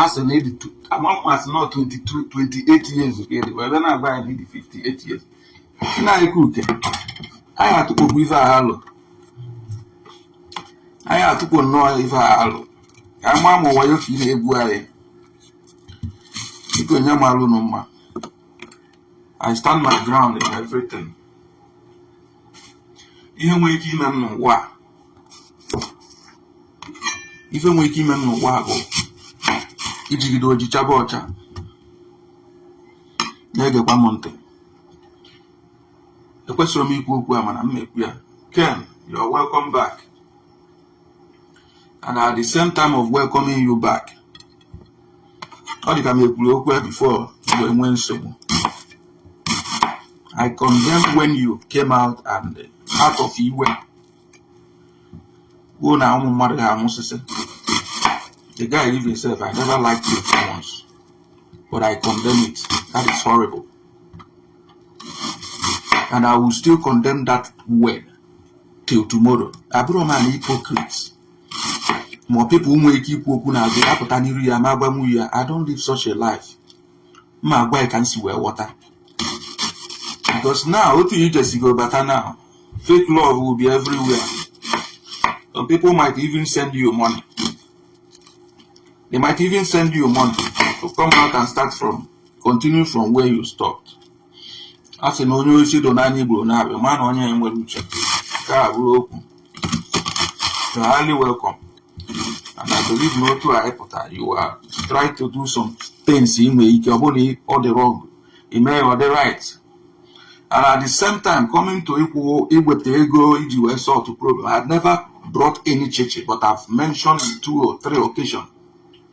a sị na ị dị amasị na 22 28 years ka ị dị ebe na-agba anyị dị 58 years nna anyị kuke anyị atụkpo gị ife a alụ anyị atụkpo nnọọ ife a alụ ka anyị maa ma wayo ka ị na-egbu anyị biko nye m alụ nụ mma I stand my ground in everything ihe nwere ike ime n'ụwa ife nwere ike ime n'ụwa bụ ijigide oji chaba ọcha na-egekwa m ntị ekwesirọ m ikwu okwu a mana m na-ekwu ya Ken you're welcome back and at the same time of welcoming you back ọ dị ka m ekwuru okwu ya before i nwee nsogbu I condemn when you came out and out of iwe kwuo na ụmụ mmadụ ga-anwụsịsị the guy leave himself I never liked you for once but I condemn it that is horrible and I will still condemn that word till tomorrow abụrọ m an hypocrite ma ọ people nwee ike ikwu okwu n'azụ ya apụta n'iru ya ma agwanwu ya I don't live such a life ma agwa ya ka m si wee ghọta because now otu i jesigo bata now fake love will be everywhere some people might even send you money they might even send you money to come out and start from continue from where you stopped a sị na onye osi do n'anya igbo na-abịa ma na onye ya nwere uche nke a bụrụ okwu you are highly welcome and I believe na otu a ị pụta you are trying to do some things ị nwere ike ọ bụrụ na ọ dị wrong ị mee ọ dị right and at the same time coming to ikwu iweta ego iji wee solve problem I have never brought any Chichi but I've mentioned two or three occasions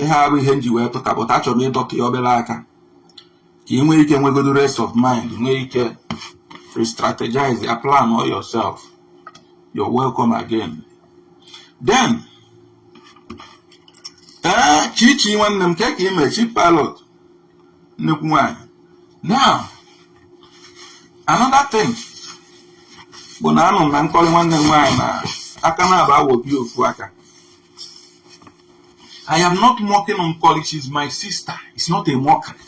ihe a abụrọ ihe m ji wee pụta but achọrọ m ịdọtụ ya obere aka ka ị nwee ike nwegodo rest of mind nwee ike re-strategize ya plan all yourself you're welcome again then ee Chichi nwanne m kee ka i mee Chi pilot nnekwu nwanyị now another thing bụ na anụ m na Nkọli nwanne m nwaanyị na aka na-aba awobi ofu aka I am not mocking Nkoli. She is my sister. It's not a mockery.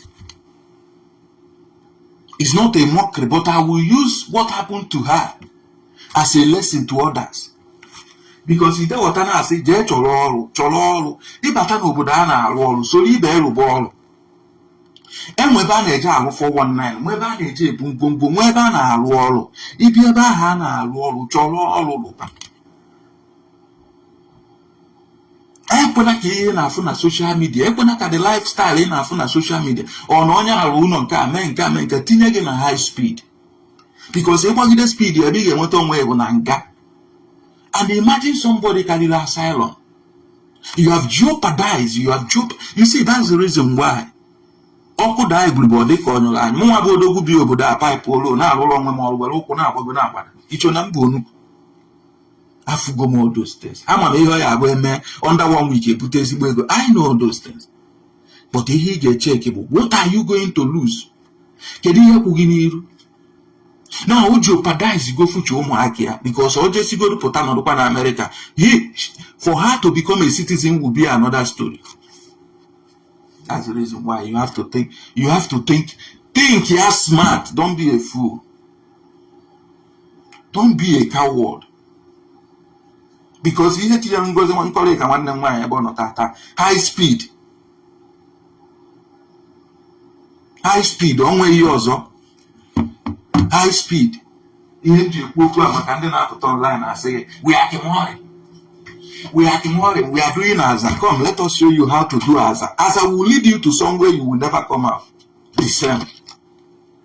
It's not a mockery, but I will use what happened to her as a lesson to others. Because ide wata na-asị jee chọrọ ọrụ chọrọ ọrụ ị bata n'obodo a na-arụ ọrụ soro ibe gị rụba ọrụ e nwee ebe a na-eje arụ 419 nwee ebe a na-eje ebu ngwongwo nwee ebe a na-arụ ọrụ ị bịa ebe ahụ a na-arụ ọrụ chọrọ ọrụ rụba ekwena ka ihe ị na-afụ na social media ekwena ka the lifestyle ị na-afụ na social media ọ na onye a rụrụ ụnọ nke a mee nke a mee nke tinye gị na high speed because ị gbagide speed ebe ị ga-enweta onwe gị bụ na nga and imagine somebody ka riri asylum you have jeopardized you have jeop you see that's the reason why ọkụ daa igurube ọ dị ka ọ nyụrụ anyụ mụnwa bụ odogwu bi obodo a paịpụ olu na-arụrụ onwe m ọrụ were ụkwụ na-agbago na-agbada i cho na m bụ onukwu afụgo m all those things ama m ihe ọ ya-abụ e mee under one week e bute ezigbo ego I know all those things but ihe ị ga-echeki bụ what are you going to lose kedu ihe kwụ gị n'iru na o jeopardize go future ụmụaka ya because o jesigodu pụta nọdụkwa na Amerịka he for her to become a citizen will be another story that's the reason why you have to think you have to think think ya smart don't be a fool don't be a coward because ihe tinye Ngozi Nkọlịka nwanne m nwaanyị ebe ọ nọ tata high speed high speed o nweghị ihe ọzọ high speed ihe m ji ekwu okwu a maka ndị na-apụta online asị gị we are kemori we are kemori we are doing aza come let us show you how to do aza aza will lead you to somewhere you will never come out the same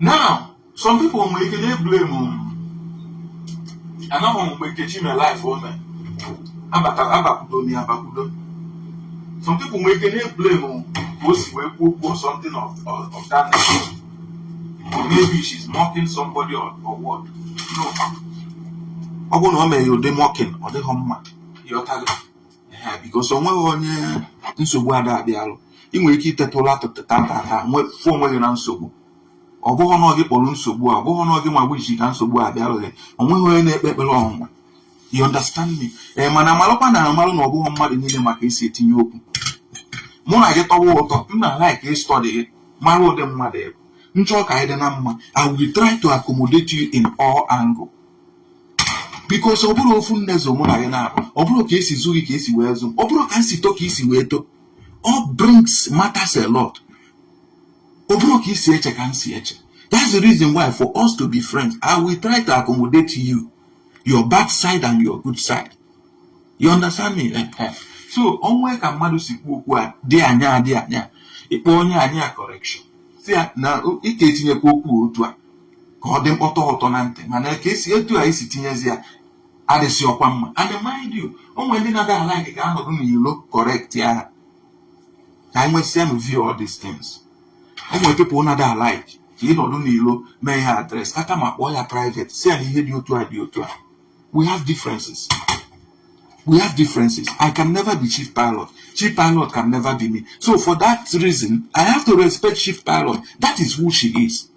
now some people nwere ike na-eblem anaghị mgbe Nkechi mere live o mere abata abakwudo na ya abakwudo some people nwere ike na-eblem ka o si wee kwuo kwuo something of, of, of that nature or maybe she's mocking somebody or, or what no ọ bụrụ na o mere ụdị mocking ọ dịghị mma ị ghọtago because o nweghị onye nsogbu ada abịalụ ị nwere ike iteta ụla ụtụtụ tata wee fụ onwe gị na nsogbu ọ bụghị na ọ gị kpọrọ nsogbu a ọ bụghị na ọ gị nwa wish ka nsogbu a bịalụ gị o nweghị onye na-ekpe ekpere ọnwụnwa you understand me ee mana amalụkwa na amalụ na ọ bụghị mmadụ niile ma ka e si etinye okwu mụ na gị tọwa ụtọ m na like ịstudy gị mara ụdị mmadụ ị bụ m chọọ ka anyị dị na mma i will try to accommodate you in all angle because ọ bụrọ ofu nne zụ mụ na gị na-akpa ọ bụrọ ka e si zụ gị ka e si wee zụ m ọ bụrọ ka m si to ka i si wee to upbrings matters a lot ọ bụrọ ka i si eche ka m si eche that's the reason why for us to be friends i will try to accommodate you your bad side and your good side you understand me eh, eh. so o nwe ka mmadụ si kwu okwu a dị anya dị anya ịkpọ onye anya correction sị ya na ị ka-etinyekwa okwu otu a ka ọ dị mkpọtọ ụtọ na ntị mana ka i si etu a i si tinyezi ya adịzịrọkwa mma and mind you o nwere ndị na-ada alike ka a nọdụ n'ilo correct ya ha ka anyị nwesịa m view all these things o nwere people na-ada alike ka ị nọdụ n'ilo mee ya address kaka mma kpọọ ya private sị ya na ihe dị otu a dị otu a we have differences we have differences i can never be chief pilot chief pilot can never be me so for that reason i have to respect chief pilot that is who she is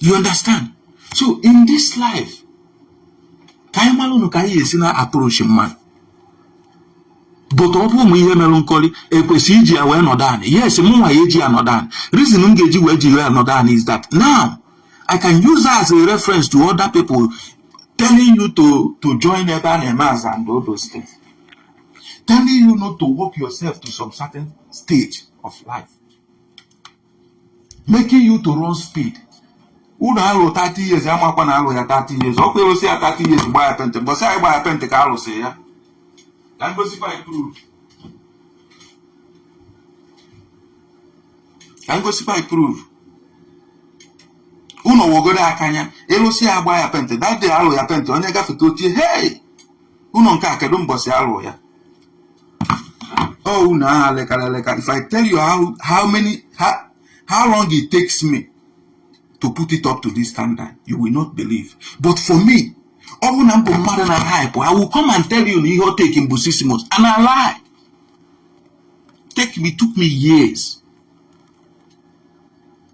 you understand so in this life ka anyị malụnụ ka anyị esi na-approach mmadụ but ọ bụ ụmụ ihe merụ nkọrị ekwesị iji ya wee nọdụ anị yes mụnwa ya-eji ya nọdụ anị reason m ga-eji wee jiri ya nọdụ anị is that now I can use that as a reference to other people telling you to to join ebe a na-eme aza and all those things telling you not to work yourself to some certain stage of life making you to run speed ụnọ alụ 30 years amakwa na alụ ya 30 years ọkwa elusia 30 years gba ya penti mbọsị anyị gba ya penti ka alụsị ya ka m gosikwa anyị proof ka m gosikwa anyị proof ụnọ wegodu aka anya elusia gba ya penti that day alụ ya penti onye gafeta o tie hey ụnọ nke a kedu mbọsị alụ ya oh unu aha lekara eleka if i tell you how how many how, how long it takes me to put it up to this standard you will not believe but for me ọ bụ na mbụ mmadụ na hype i will come and tell you na ihe o take mbụ six months and i lie take me took me years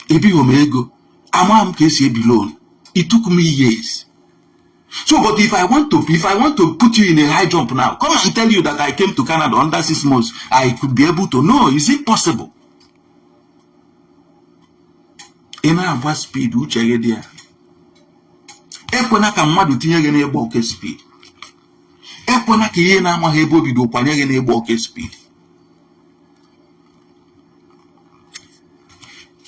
ebighị m ego ama m ka esi ebi loan it took me years so but if i want to if i want to put you in a high jump now come and tell you that i came to canada under six months i could be able to no is it possible ị na-agba speed uche gị dị ya ekwena ka mmadụ tinye gị n'ịgba oke speed ekwena ka ihe ị na-amaghị ebe o bido kwanye gị n'ịgba oke speed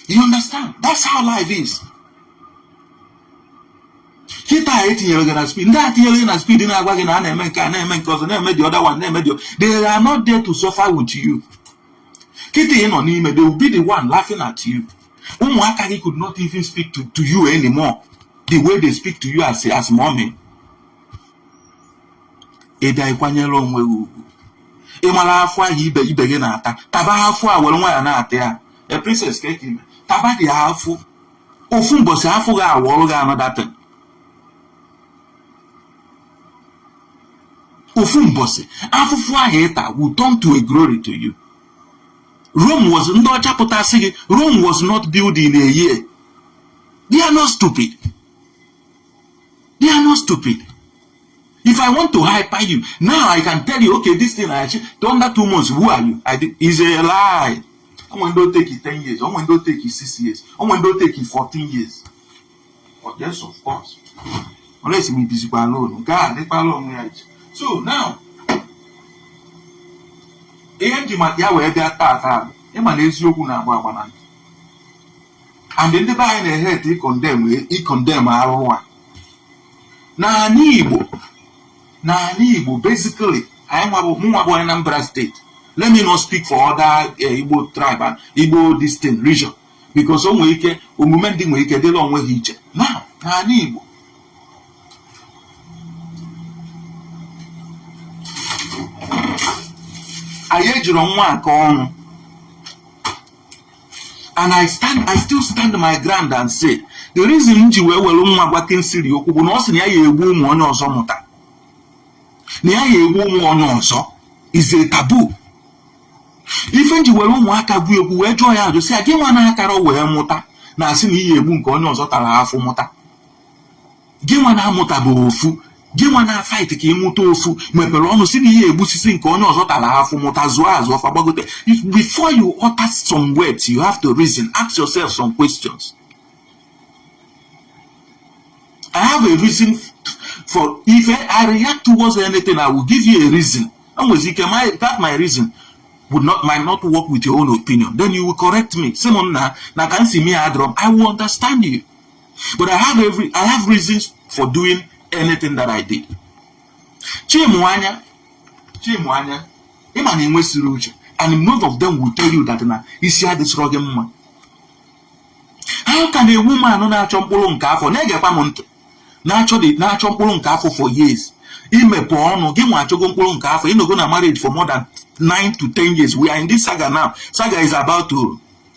you understand that's how life is kịta e tinyere gị na speed ndị a tinyere gị na speed na-agwa gị na a na-eme nke a na-eme nke ọzọ na-eme the other one na-eme the they are not there to suffer with you kịta ị nọ n'ime they will be the one laughing at you ụmụaka gị could not even speak to, to you anymore the way they speak to you as, as mommy ị bịa ịkwanyere onwe gị ugwu ị mara afụ ahụ ibe ibe gị na-ata taba afụ a were nwayọ na-ata ya a princess ka eke ime taba dị afụ ofu mbọsị afụ ga-awọrọ gị another thing ofu mbọsị afụfụ ahụ ị ta will turn to a glory to you Rome was ndị ọcha pụta sị gị Rome was not built in a year they are not stupid They are not stupid. If I want to hyper you, now I can tell you, okay, this thing I achieved under two months, who are you? I did, is a lie. I'm going to take it 10 years. I'm going to take it 6 years. I'm going to take it 14 years. But yes, of course. Unless me busy alone. God, they alone right. So now, ihe m ji maka ya wee bịa taa taa ịma na eziokwu na-agba agba na and ndị be anyị na-ehate icondemn icondemn arụ a n'ala igbo n'ala igbo basically anyị nwa bụ mụnwa bụ onye Anambra State let me not speak for other eh, igbo tribe and igbo distant region because o nwere ike omume ndị nwere ike dịrị onwe ha iche na n'ala igbo anyị ejirọ nwa akọ ọnụ and I stand I still stand my ground and say the reason m ji wee were nwa gwa Kingsley okwu bụ na ọ sị na ya ya egbu ụmụ onye ọzọ mụta na ya ya egbu ụmụ onye ọzọ is a taboo ife m ji were ụmụaka kwuo okwu wee jụọ ya ajụ sị ya gị nwa na-akara wee mụta na-asị na ị ya-egbu nke onye ọzọ tara afụ mụta gị nwa na-amụtabeghị ofu gị nwa na-afight ka ị mụta ofu mepere ọnụ sị na ị ya-egbusisi nke onye ọzọ tara afụ mụta zụọ azụ ọfa gbagote before you utter some words you have to reason ask yourself some questions I have a reason for if I react towards anything I will give you a reason e nwezi ike my that my reason would not might not work with your own opinion then you will correct me sị m nna na ka m si mee adịrọ mma I will understand you but I have every I have reasons for doing anything that I did Chimwanya Chimwanya ị ma na e nwesịrị uche and none of them will tell you that na isi adịsịrọ gị mma how can a woman na-achọ mkpụrụ nke afọ na-egekwa m ntị na-achọ na-achọ mkpụrụ nke afọ for years i mepe ọnụ gị nwa achọgo mkpụrụ nke afọ ị nọgo na marriage for more than 9 to 10 years we are in this saga now saga is about to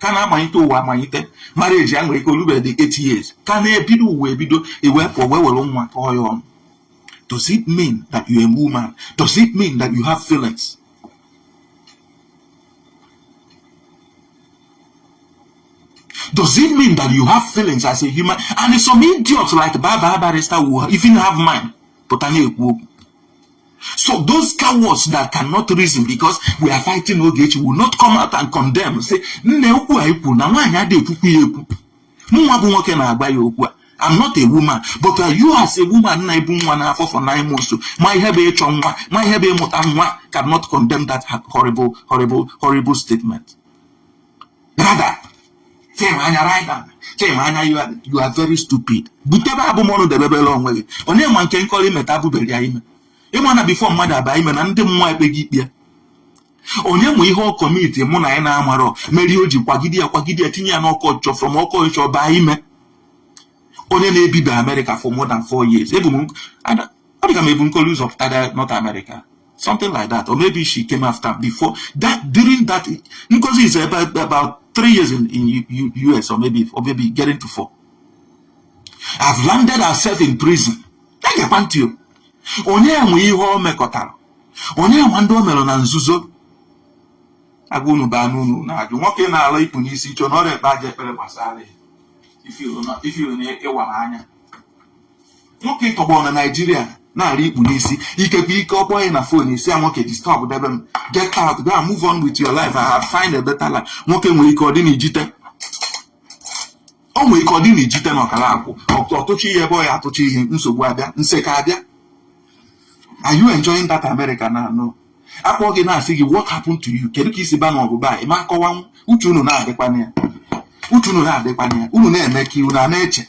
ka na-amalite ụwa amalite marriage ya nwere ike o lubedị 8 years ka na-ebido ụwa ebido ewepụ wee were nwa kọọ ya ọnụ does it mean that you are a woman does it mean that you have feelings Does it mean that you have feelings as a human? And some idiots like Baba Barrister will even have mind. pụta na-ekwu okwu So those cowards that cannot reason because we are fighting Ogechi will not come out and condemn say nne okwu a i kwuru na nwaanyị adịghị ekwukwu ya ekwu mụnwa bụ nwoke na-agwa ya okwu a I'm not a woman but uh, you as a woman na-ebu nwa n'afọ for nine months ma ihe bụ ịchọ nwa ma ihe bụ ịmụta nwa cannot condemn that horrible horrible horrible statement. brother chima anya right down chima anya you are, you are very stupid butebe abụmọnụ debebere onwe gị onye ma nke nkọrọ imeta abụbere ya ime ịma na before mmadụ aba ime na ndị mmụọ ekpe gị ikpe onye ma ihe ọ kọmiti mụ na gị na-amarọ mere o ji kwagide ya kwagide ya tinye ya n'ọkọ ọchịchọ from ọkọ ọchịchọ baa ime onye na-ebibe America for more than four years ebu m ọ dịka m ebu nkolu ụzọ pụtara north America something like that or maybe she came after before that during that ngozi is about, about three years in, in U, US or maybe or maybe getting to four have landed herself in prison egekwa ntị onye nwee ihe o mekọtara onye nwee ndị o mere na nzuzo agwa unu baa n'unu na-ajụ nwoke na-ala ikpu n'isi chọọ na ọrịa ekpe aja ekpere gbasara ya i feel na ị wara anya nwoke ị tọgbọ na naijiria na-ara ikpu n'isi ikekwe ike ọ kpọọ gị na fon ị sị ya nwoke disturb debe m get out go and move on with your life I have find a better life nwoke nwere ike ọ dị n'ijite o nwere ike ọ dị n'ijite na ọkara akwụ ọ- ọtụchi ihe ebe ọ ya atụchi ihe nsogbu abịa nseka abịa are you enjoying that America now no a kpọọ gị na-asị gị what happened to you kedu ka i si baa na ọbụba ị ma akọwanwu uche unu na-adịkwana ya uche unu na-adịkwana ya unu na-eme ka unu a na-eche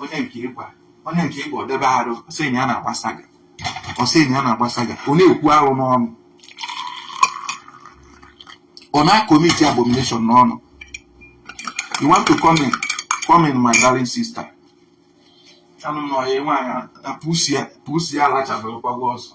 onye nke ị gwa onye nke ị gwa ọ debe arụ ọ sị na ya na-agba saga ọ sị na ya na-agba saga ọ na-ekwu arụ n'ọnụ ọ na-akomiti abomination n'ọnụ you want to come in come in my darling sister anụ m na ọya nwaanyị pussy ya alachabụrụkwago ọsọ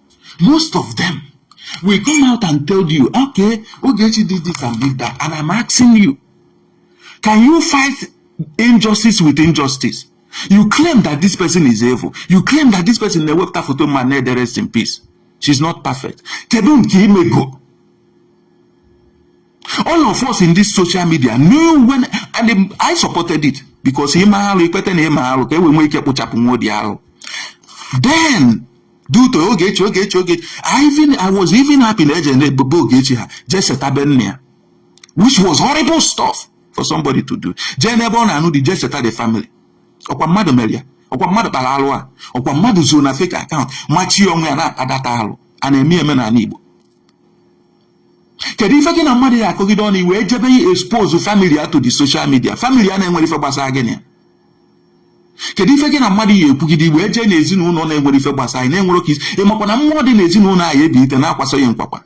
most of them will come out and tell you okay ogechi did this and did that and i'm asking you can you fight injustice with injustice you claim that this person is evil you claim that this person na-ewepụta foto ma na-ede rest in peace she's not perfect kedu nke i mego all of us in this social media knew when and I supported it because i mee arụ i kweta na i mere arụ ka e wee nwee ike kpụchapụ nwa odi arụ then due to Ogechi Ogechi Ogechi I even I was even happy na eje na-ebube Ogechi ha jee seta be nne ya which was horrible stuff for somebody to do jee n'ebe ọ na-anụ di jee seta the family ọkwa mmadụ mere ya ọkwa mmadụ kpara alụ a ọkwa mmadụ zoro na fake account machie onwe ya na-akpadata alụ a na-eme eme n'ala Igbo kedu ife gị na mmadụ ya akọgide ọnụ i wee jebe ya expose family ya to the social media family ya na-enwerọ ife gbasara gị na ya kedu ife gị na mmadụ ya ekwugide i wee jee na ezinụlọ na-enwerọ ife gbasa anyị na-enwerọ ka i si ịmakwa na mmụọ dị na ezinụlọ ahụ ebilite na-akwasa ya nkwakwa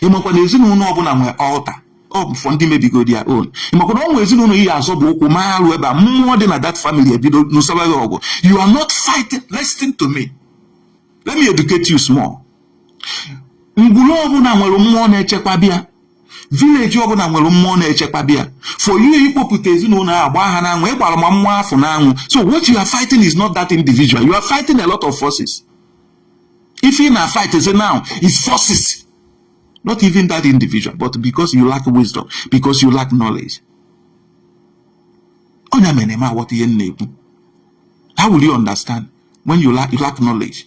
ịmakwa na ezinụlọ ọbụla nwee altar ọ bụ for ndị mebigo their own ịmakwa na ọ nwee ezinụlọ ị ya azọba ụkwụ mee arụ ebe a mmụọ dị na that family ebido nụsaba gị ọgụ you are not fighting listen to me let me educate you small ngwuru ọbụla nwere mmụọ na-echekwaba ya village ọbụla nwere mmụọ na-echekwaba ya for you ikpopụta ezinụlọ ahụ gbaa ha n'anwụ ị gbara ma mmụọ afụ n'anwụ so what you are fighting is not that individual you are fighting a lot of forces ife ị na-a fight zi now is forces not even that individual but because you lack wisdom because you lack knowledge onye mere ma aghọta ihe m na-ekwu how will you understand when you lack, you lack knowledge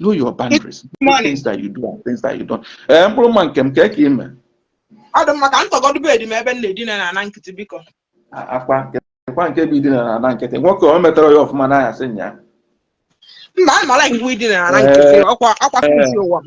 know your boundaries things that you do and things that you don't ee eh, mkpụrụ mma nke m ka ka ime ọ dị mma ka m tọgọdụ bed m ebe m na-edina na ana nkịtị biko akwa nkekwa nke bụ idina na ana nkịtị nwoke o metara ya ọfụma na ahịa sị nya mba a mara iwu idina na ana nkịtị eh, ọkwa akwa eh, ụwa m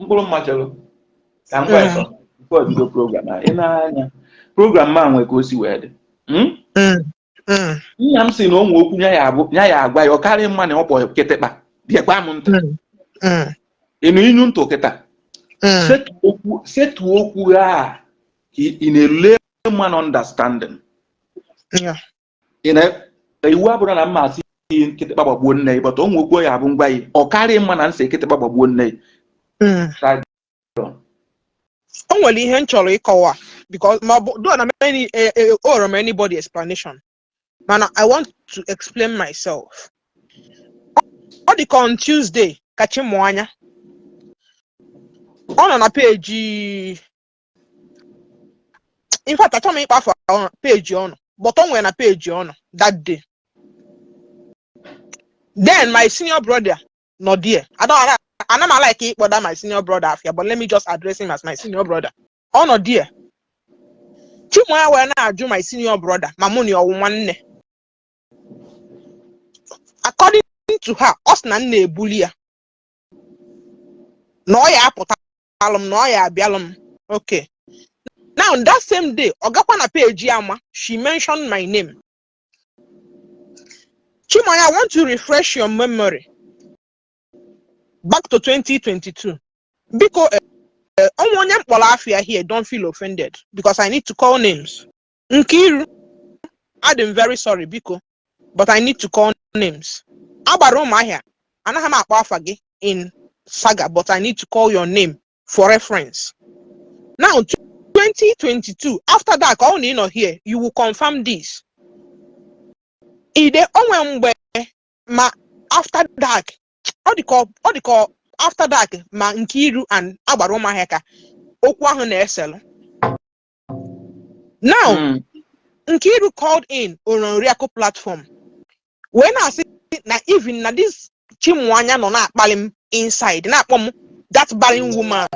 mkpụrụ mma chelụ ka m gwa ya sọ nke ọdịdo program a ị na-anya program m a nwe ka o si wee dị Hmm? Mm, mm, nna m sị na o nwe okwu ya ya abụ- ya ya agwa ya ọ karịa mma na ọ kpọ kịtịkpa geekwa m ntị mm, mm, ị nụ inu m tụ kịta mm, setu okwu setu okwu a ka ị in a layman understanding yeah. ị na iwu abụrụ na m ma asị yi kịtịkpa gbagbuo nne yi but o nwe okwu ọ ya-abụ m gwa yi ọ karịa mma na m sị kịtịkpa gbagbuo nne yi Mm. Try- o nwere ihe m chọrọ ịkọwa because ma ọ bụ though na many eh, eh, owerọ m anybody explanation mana i want to explain myself ọ dị ka on tuesday ka Chimuanya ọ nọ na page in fact achọghị m ịkpọ afa page ọ nọ but o nwere na page ọ nọ that day then my senior brother nọ there I don't ala- anaghị m a like ịkpọda my senior brother afa ya but let me just address him as my senior brother ọ nọ there Chimuanya wee na-ajụ my senior brother ma mụ na ya ọ wụ nwanne according to her ọ sị na m na-ebuli ya na ọ ya apụta alụ m na ọ ya abịalụ m okay now that same day ọ gakwa na page ya ma she mentioned my name Chimuanya, I want to refresh your memory back to 2022. Biko, eh, eh, o nwee onye m kpọrọ afa ya here, don't feel offended because I need to call names. Nkiru, adị m very sorry biko but I need to call names. Agbara ụmụahịa, anaghị m akpọ afa gị in saga but I need to call your name for reference. Now 2022 after dark ọ bụ na ị nọ here you will confirm this. Ide o nwe mgbe ma after dark ọ dị ka ọ- ọ dị ka ọ- after dark ma Nkiru and Agbara Umuahia ka okwu ahụ na-eselụ. now Mm. Nkiru called in on Oriakụ platform wee na-asị na even na this Chimuanya nọ na-akpali m inside na-akpọ m that barren woman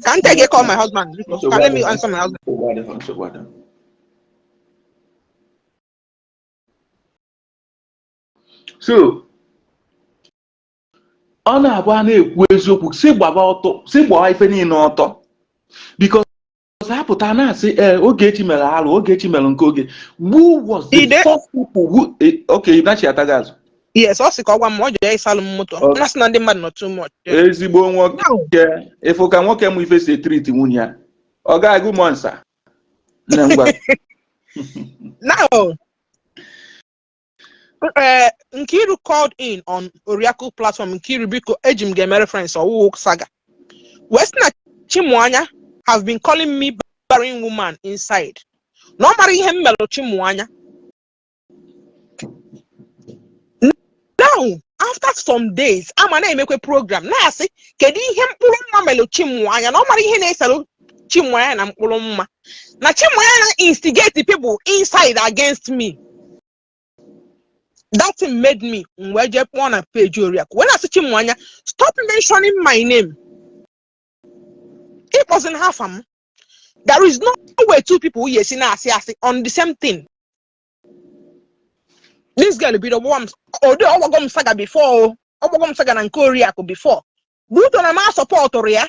ka nte gị call my husband biko ka let me answer my husband Nsogbu adịghị, nsogbu adịghị. so ọ na-abụ a na-ekwu eziokwu sị gbaba ọtọ sị gbaa ife niile ọtọ because ha pụta na-asị ee eh, Ogechi mere arụ Ogechi mere nke oge who was the first people who eh, okay Idachi ataghị azụ yes ọ sị ka ọ gwa m ọ jere ịsalụ m moto na sị na ndị mmadụ nọ too much ezigbo nwoke ịfụ ka nwoke m ife si e-treat nwunye ya ọ ga-agụ mọ nsa na ngwa ee Nkiru called in on Oriakụ platform Nkiru biko eji m gị eme reference ọ wụghị saga wee sị na Chimuanya have been calling me barren woman inside na ọ mara ihe m melụ Chimuanya now after some days ama na-emekwe program na-asị kedu ihe Mkpụrụmma melụ Chimuanya na ọ mara ihe na-eselụ chimwanya na Mkpụrụmma na chimwanya na-instigate people inside against me that thing made me m wee jee kpọọ na page oriakụ wee na-asị chimwanya stop mentioning my name akpọzina afa m there is no way two people ya-esi na-asị asị on the same thing this girl bido gbawa m ode ọ gbago m saga before o ọ gbago m saga na nke oriakụ before but ọ na m asọpọtụrụ ya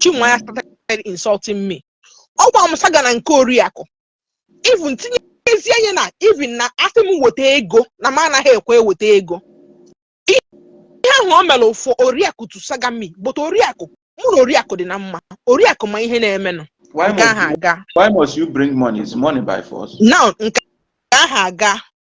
Chimuanya started insulting me ọ gbaa m saga na nke oriakụ even tinyezie anya na even na asị m weta ego na m anaghị ekwe eweta ego ihe ahụ o mere for oriakụ to saga me but oriakụ mụ na oriakụ dị na mma oriakụ ma ihe na-emenụ Why nke ahụ must, you, aga why must you bring money? Is money by force? now nke ahụ aga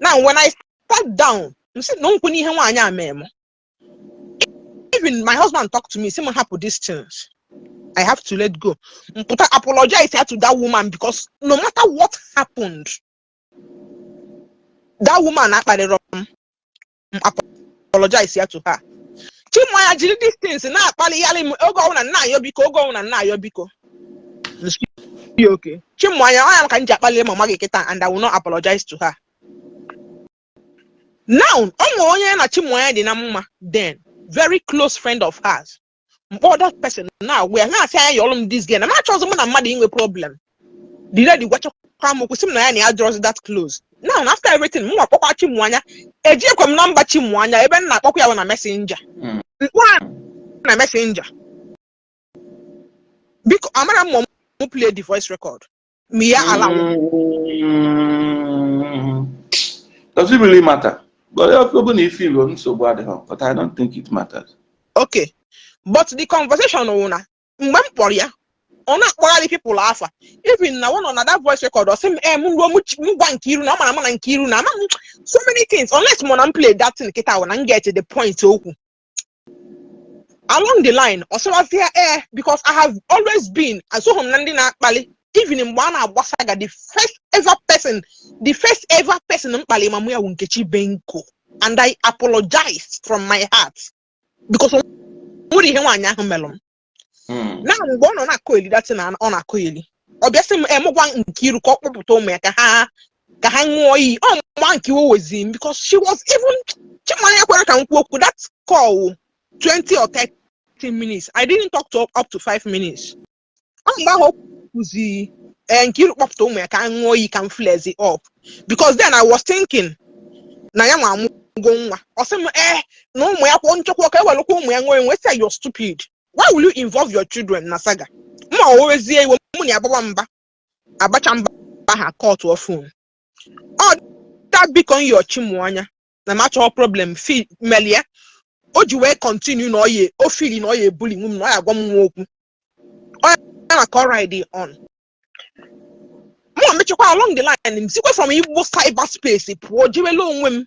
now when i sat down m sị na nkwụ n'ihe nwaanyị a mee m even my husband talked to me sị m hapụ these things i have to let go m pụta apologize ya to that woman because no matter what happened that woman akparịrọ m m apologize ya to her Chimuanya jiri these things na-akpalịgharị m oge ọbụla m na-ayọ biko oge ọbụla m na-ayọ biko okay Chimuanya ọ ya ka m ji akpalị mama gị kịta and I will not apologize to her now ọ nwere onye ya na Chimuanya dị na mma then very close friend of hers m kpọọ that person na-agwa ya na-asị anya yọọlụ m this girl na m achọọzị mụ na mmadụ inwe problem the lady gwachakwa m okwu sị m na ya na ya adịrọzị that close now na after everything mụwa akpọkwa Chimụanya ejiekwa m number Chimụanya ebe m na-akpọkwa ya bụ na messenger Mm. m kpọọ ya na messenger biko amara m ma m play the voice record ma ya ala Mm, Does it really matter? But if you're going to feel on so bad, huh? but I don't think it matters. okay but the conversation wụ na mgbe m kpọrọ ya ọ na-akpọgharị people afa even na ọ nọ na that voice record ọ sị m em ruo m chi- m gwa Nkiru na ọ mara mụ na Nkiru na ama m so many things unless mụ na m play that thing kịta wụ na m get the point okwu along the line ọ sịwazi ya ee because I have always been asoghị m na ndị na-akpali even mgbe a na-agba saga the first ever person the first ever person m kpali ma ụmụ ya bụ Nkechi Benko and I apologized from my heart because o nwere ihe nwaanyị ahụ melụ m Hmm. na mgbe ọ nọ na-akọeli that thing ọ na-akọeli ọ bịa sị m em gwa Nkiru ka ọ kpọpụta ụmụ ya ka ha ka ha ṅụọ iyi ọ mgbe ahụ ka iwe wezi m because she was even Chimụanya ekwerọ ka m kwuo okwu that call 20 or 30 minutes I didn't talk to up to 5 minutes ọ mgbe ahụ o kwuzi eh, Nkiru kpọpụta ụmụ ya ka ha ṅụọ iyi ka m flarezi up because then I was thinking na ya nwa amụgo nwa ọ sị m ee eh, na ụmụ ya kwa m chọkwa ka e welụkwa ụmụ ya ṅụọ m wee sị you're stupid why will you involve your children na saga ma o wezie iwe mụ na ya ababa mba abacha mba a cutụọ phone ọ da biko yọọ Chimụanya na m achọghị problem ife melie o ji wee continue na ọ ya o feel na ọ ya-ebullynwu m na ọ ya-agwa m nwa okwu ọ ya na ka ọ ride on mụ mechakwa along the line m sikwa from igbo cyber space pụọ jewelụ onwe m